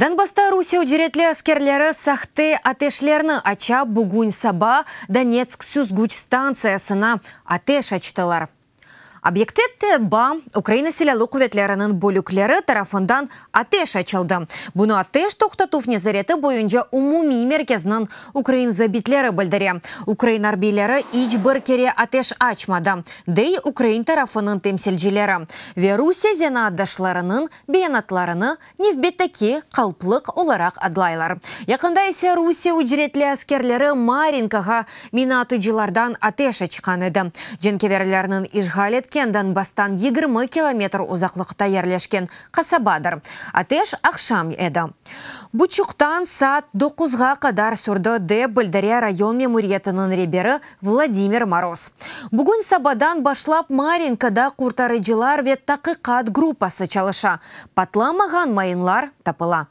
Donbassta Rusiye ücretli askerleri sahte ateşlerni aça, bugün saba Donetsk süzgüç stantsiyasına ateş açtılar. Obyekte TBA, Ukraina Silâlı quvetleriniñ bölükleri, tarafından ateş açıldı. Bunı ateş toqtatuv nezareti boyunca umumiy merkezniñ ukrain zabitleri bildire. Ukrain arbiyleri iç bir kere ateş açmadı, dey ukrain tarafınıñ temsilcileri ve Rusiye zenaatdaşlarınıñ beyanatlarını nevbetteki qalplıq olaraq adlaylar. Yaqında ise Rusiye ücretli askerleri Marinkağa mina atıcılardan ateş açqan edi. Cenkeverlerniñ işğal etken Donbastan yigirmi kilometr uzaqlıqta yerleşken qasabadır. Ateş aqşam edi. Buçuqtan saat doquzğa qadar sürdi, dep bildire rayon memuriyetiniñ reberi Vladimir Moroz. Bugün sabadan başlap Marinkada qurtarıcılar ve taqiqat gruppası çalışa, patlamağan mayınlar tapıla.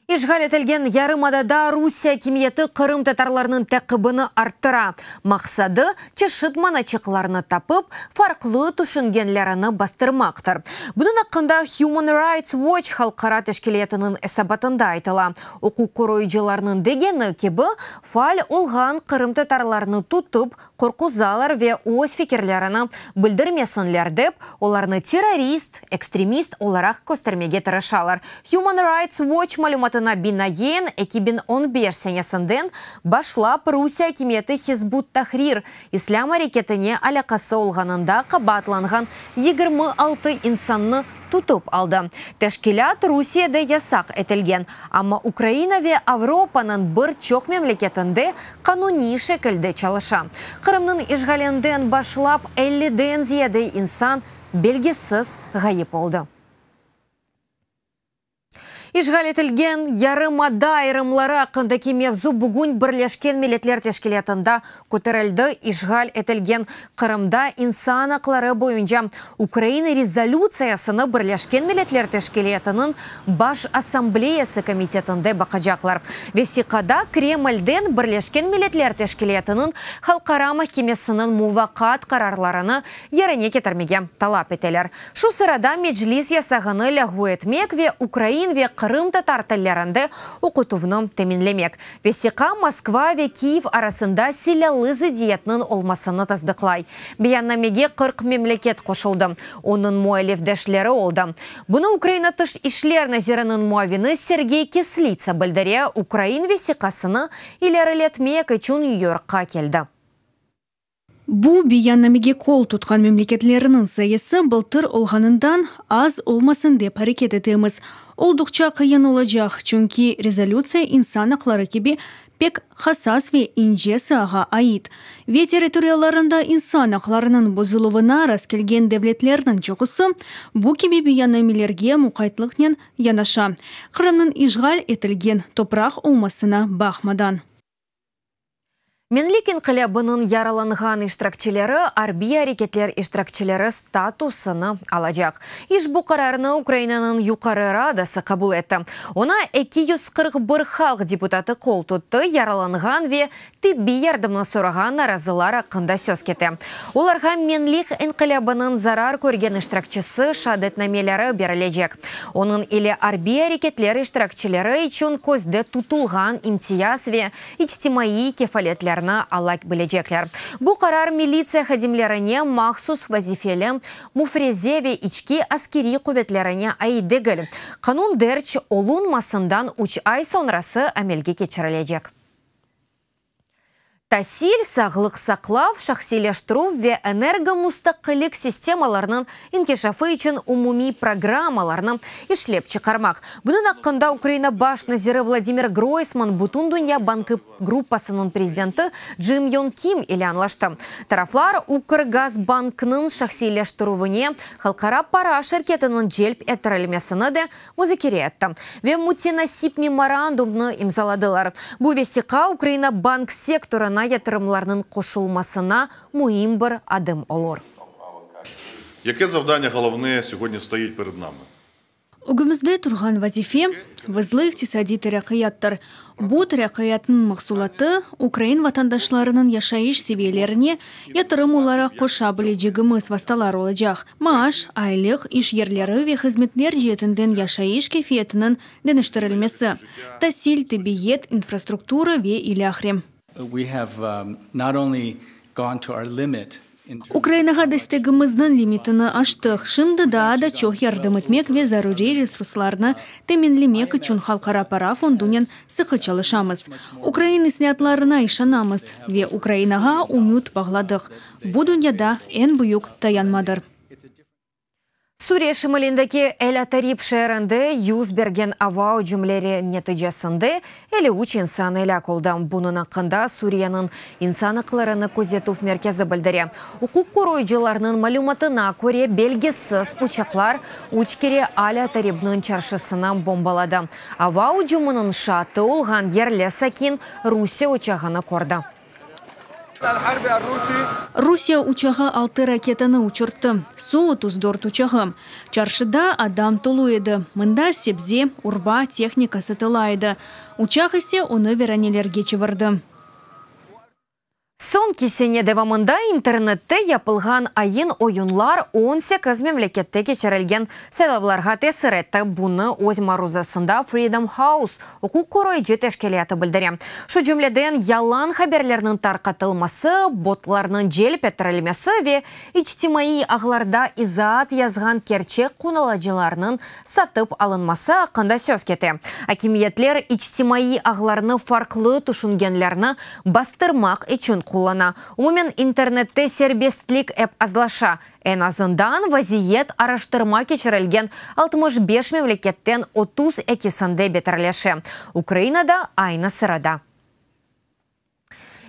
İşğal etilgen yarımadada Rusiye akimiyeti qırımtatarlarnıñ taqibini arttıra. Maqsadı, çeşit manaçıqlarnı tapıp, farqlı tüşüngenlerini bastırmaqtır. Bunıñ aqqında Human Rights Watch halqara teşkiliyatınıñ esabatında aytıla, uquqqoruyıcılarnıñ degeni kibi, Faal olğan qırımtatarlarnı tutıp, qorquzalar ve öz fikirlerini bildirmesinler dep, olarnı terrorist, ekstremist olaraq köstermege tırışalar. Human Rights Watch malümatına binaen, eki biñ on beş senesinden başlap Rusiye akimiyeti Hizb ut-Tahrir islâm areketine alâqası olğanında qabaatlanğan yigirmi altı insannı tutıp aldı. Teşkilât Rusiyede yasaq etilgen, amma Ukraina ve Avropanıñ bir çoq memleketinde qanuniy şekilde çalışa. Qırımnıñ işğalinden başlap elliden ziyade insan belgisiz ğayıp oldı. İşğal etilgen yarımada ayırımları aqqındaki mevzu bugün Birleşken Milletler Teşkilâtında köterildi, işğal etilgen Qırımda insan aqları boyunca Ukraina rezolütsiyasını Birleşken Milletler Teşkilâtınıñ Baş Assambleyası komitetinde baqacaqlar. Vesiqada Kremlden Birleşken Milletler Teşkilâtınıñ Halqara mahkemesiniñ muvaqaat qararlarını yerine ketirmege talap eteler. Şu sırada Meclis yasağını lâğu etmek ve ukrain ve qırımtatar tillerinde oqutuvnı teminlemek vesiqa Moskva ve Kyiv arasında silâlı zıddiyetniñ olmasını tasdıqlay. Beyannamege qırq memleket qoşuldı, onıñ mualifdeşleri oldı. Bunı Ukraina tış işler naziriniñ muavini Sergey Kislitsa bildire, ukrain vesiqasını ileriletmek içün Nyu-Yorkqa keldi. Bu beyannamege qol tutqan memleketlerniñ sayısı bıltır olğanından az olmasın dep areket etemiz. Olduqça qıyın olacaq, çünki rezolütsiya insan aqları kibi pek hassas ve ince saağa ait. Ve territoriyalarında insan aqlarınıñ bozuluvına rastkelgen devletlerniñ çoqusı bu kibi beyannamelerge muqaytlıqnen yanaşa, Qırımnıñ işğal etilgen topraq olmasına baqmadan. Menlik inqilâbınıñ yaralanğan iştirakçileri arbiy areketler iştirakçileri statusını alacaq. İşbu qararnı Ukrainanıñ Yuqarı Radası qabul etti. Oña eki yüz qırq bir halq deputatı qol tuttı, yaralanğan ve tibbiy yardımnı sorağan narazılar aqqında söz kete. Olarğa Menlik inqilâbınıñ zarar körgen iştirakçisi şeadetnameleri berilecek. Onıñ ile arbiy areketler iştirakçileri içün közde tutulğan imtiyaz ve içtimaiy kefaletlerni ala bilecekler. Bu qarar militsiya hadimlerine mahsus vazifeli müfreze ve içki askeriy quvetlerine ait degil, qanun derc olunmasından üç ay soñrası amelge keçirilecek. tasil, sağlıq saqlav, şahsiyleştirüv ve energomustaqillik sistemalarınıñ inkişafı içün umumiy programmalarnı işlep çıqarmaq. Bunıñ aqqında Ukraina baş naziri Vladimir Groysman Bütündünya bankı gruppasınıñ prezidenti Jim Yong Kim ile añlaştı. Taraflar Ukrgazbanknıñ şahsiyleştirüvine halqara para şirketiniñ celp ettirilmesini de muzakere etti ve mütenasip memorandumnı imzaladılar. Bu vesiqa Ukraina bank sektorına yatırımlarnıñ qoşulmasına müim bir adım olur. Yeke zavdaniya golovneye sögödnye stoit pered nami? Ögümizde turğan vazife, vızlı iqtisadiy terakkiyattır. Bu terakkiyattnıñ mahsulatı ukrain vatandaşlarınıñ yaşayış seviyelerine, Yatırım olaraq qoşa bilecegimiz vastalar olacaq, maaş, aylıq, iş yerleri ve hızmetler ceetinden yaşayış keyfiyetiniñ deñiştirilmesi, tasil, tibiyet, infrastruktura ve ilâhre. Ukrainağa destegimizniñ limitini aştıq, şimdi daa da çoq yardım etmek ve zaruriy resurslarnı teminlemek içün Halqara Para Fondunen Sıqı çalışamız, ukrain isnâtlarına işanamız ve Ukrainağa ümüt bağladıq, bu dünyada eñ büyük dayanmadır. Suriye şimalindeki El-Atarib şeerinde yüz bergen ava ücümleri neticesinde elli üç insan elâk oldı. Bunıñ aqqında Suriyeniñ İnsan aqlarını közetüv merkezi bildire. Uquq qoruyıcılarnıñ malümatına köre, belgisiz uçaqlar üç kere Al-Ataribniñ çarşısını bombaladı. Ava ücüminiñ şaatı olğan yerli sakin Rusiye uçağını kördi. Rusiye uçağı altı raketanı uçurttı, Su otuz dört uçağı. Çarşıda adam tolu edi, mında sebze, urba, tehnika satıla edi. Uçaq ise onı viranelerge çevirdi. Soñki sene devamında internette yapılğan ayın oyunlar on sekiz memlekette keçirilgen saylavlarğa tesir etti, bunı öz maruzasında Freedom House uquq qoruyıcı teşkilâtı bildire. Şu cümleden yalan haberlerniñ tarqatılması, botlarnıñ celp ettirilmesi ve içtimaiy ağlarda izaat yazğan kerçek qonulıcılarnıñ satıp alınması aqqında söz kete. Akimiyetler içtimaiy ağlarnı farqlı tüşüngenlerni bastırmaq içün qullana. Umumen, internette serbestlik ep azlaşa, eñ azından vaziyet araştırma keçirilgen altmış beş memleketten otuz ekisinde beterleşe, Ukraina da aynı sırada.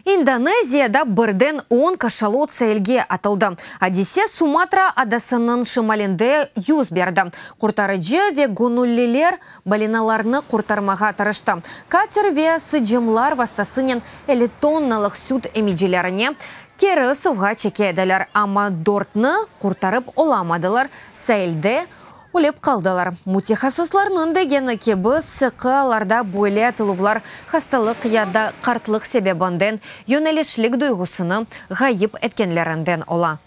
İndoneziyada birden on kaşalot seilge atıldı. Adise Sumatra adasınıñ şimalinde yüz berdi. Qurtarıcı ve göñülliler Balinalarnı qurtarmağa tırıştı. Kater ve sıcımlar vastasınen elli tonnalıq süt emicilerine keri suvğa çeke ediler, amma dörtni qurtarıp olamadılar, sailde ölip qaldılar. Mütehassıslarnıñ degeni kibi, sıqı alarda böyle atıluvlar hastalıq ya da qartlıq sebebinden yönelişlik duyğusını ğayıp etkenlerinden ola.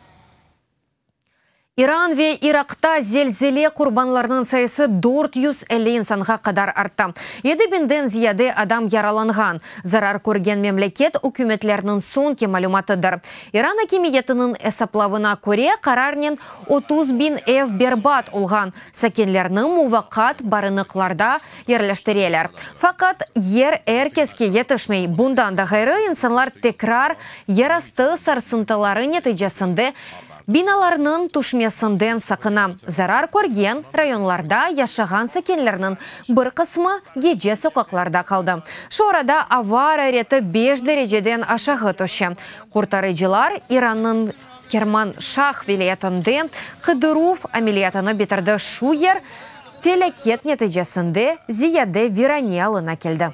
İran ve İraqta zelzele qurbanlarınıñ sayısı dört yüz elli insanğa qadar arttı, yedi biñden ziyade adam yaralanğan, zarar körgen memleket ükümetleriniñ soñki malümatıdır. İran akimiyetiniñ esaplavına köre, qararnen otuz biñ ev berbat olğan, sakinlerni muvaqqat barınıqlarda yerleştireler. Faqat, yer er keske yetişmey, bundan da ğayrı, insanlar tekrar yerastı sarsıntıları neticesinde Binalarnıñ tüşmesinden saqına. Zarar körgen rayonlarda yaşağan sakinlerniñ bir qısmı gece soqaqlarda qaldı. Şu arada ava arareti beş dereceden aşağı tüşe. Qurtarıcılar İrannıñ Kermanşah vilâyetinde qıdıruv ameliyatını bitirdi, şu yer felâket neticesinde ziyade virane alına keldi.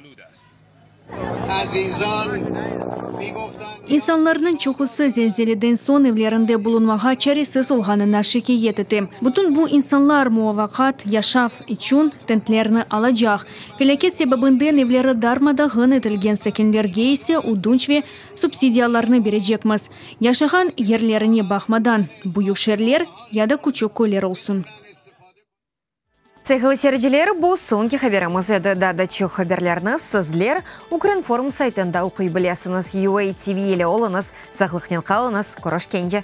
İnsanlarnıñ çoqusı zelzeleden soñ evlerinde bulunmağa çaresiz olğanına şikâyet ete. Bütün bu insanlar muvafaqat yaşav içün tentlerni alacaq. Felâket sebebinden evleri darma-dağın etilgen sakinlerge ise ödünç ve subsidiyalarnı berecekmiz, yaşağan yerlerine baqmadan, büyük şeerler ya da küçük köyler olsun. Sevgili seyirciler, bu soñki haberimiz edi. Daa da çoq haberlerni sizler Ukrinform saytında oquy bilesiñiz. UA TV ile oluñız, sağlıqnen qalıñız, körüşkence!